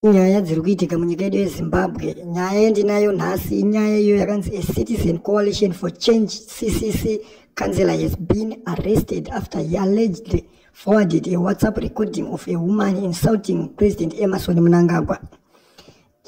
Nyaya dziri kuitika munyika yedu yeZimbabwe, nyaya yandinayo nhasi inyaya iyo yakanzi a Citizen Coalition for Change CCC councillor has been arrested after he allegedly forwarded a WhatsApp recording of a woman insulting President Emerson Mnangagwa.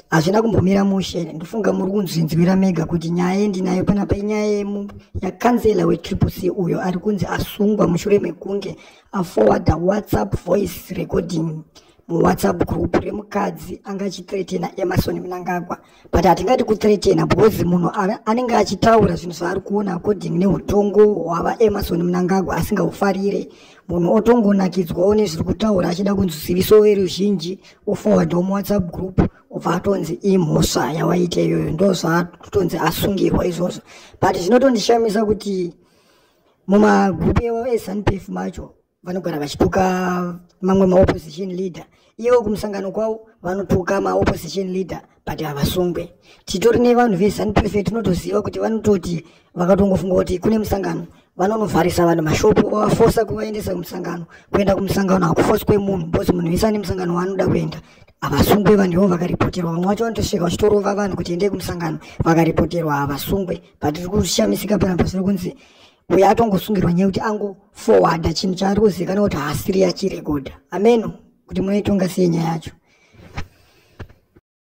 Hazvina kumbomira mushe, ndofunga muri kunzvinzwira mega kuti nyaya yandinayo panapa inyaya yemu yakanzela weTriple C uyo ari kunzi asungwa mushure mekunge aforwarda WhatsApp voice recording muwhatsapp group remukadzi anga achithretena emarson mnangagwa but hatingati kuthretena because munhu anenge achitaura zvinhu zvaari kuona according neutongo hwava emarson mnangagwa asingahufarire munhu otongonakidzwawo nezviri kutaura achida kunzi ziviso veruzhinji oforwardwa muwhatsapp group obva atonzi imhosva yawaita iyoyo ndo zvaatotonzi asungirwa izvozvo but zvinotondishamisa kuti mumagrupu ewa esanpef macho vanogara vachituka mamwe maopposition leader ivo kumusangano kwavo vanotuka maopposition leader but havasungwe titori nevanhu vezanup f tinotoziva kuti vanototi vakatongofunga kuti kune musangano vanonovharisa vanhu mashopo vavafosa kuvaendesa kumusangano kuenda kumusangano hakufoswe munhu bcause munhu vese ane musangano waanoda kuenda havasungwe vanhu ivo vakaripoterwa vamwe vacho vanotosvika vachitorova vanhu kuti endei kumusangano vakaripoterwa havasungwe but tiri kushamisika panapa zviri kunzi uye atongosungirwa nyaya kuti ango forwarda chinhu chaari kuzivikanwa kuti haasiri yachirekodha ameno kuti munoitonga sei nyaya yacho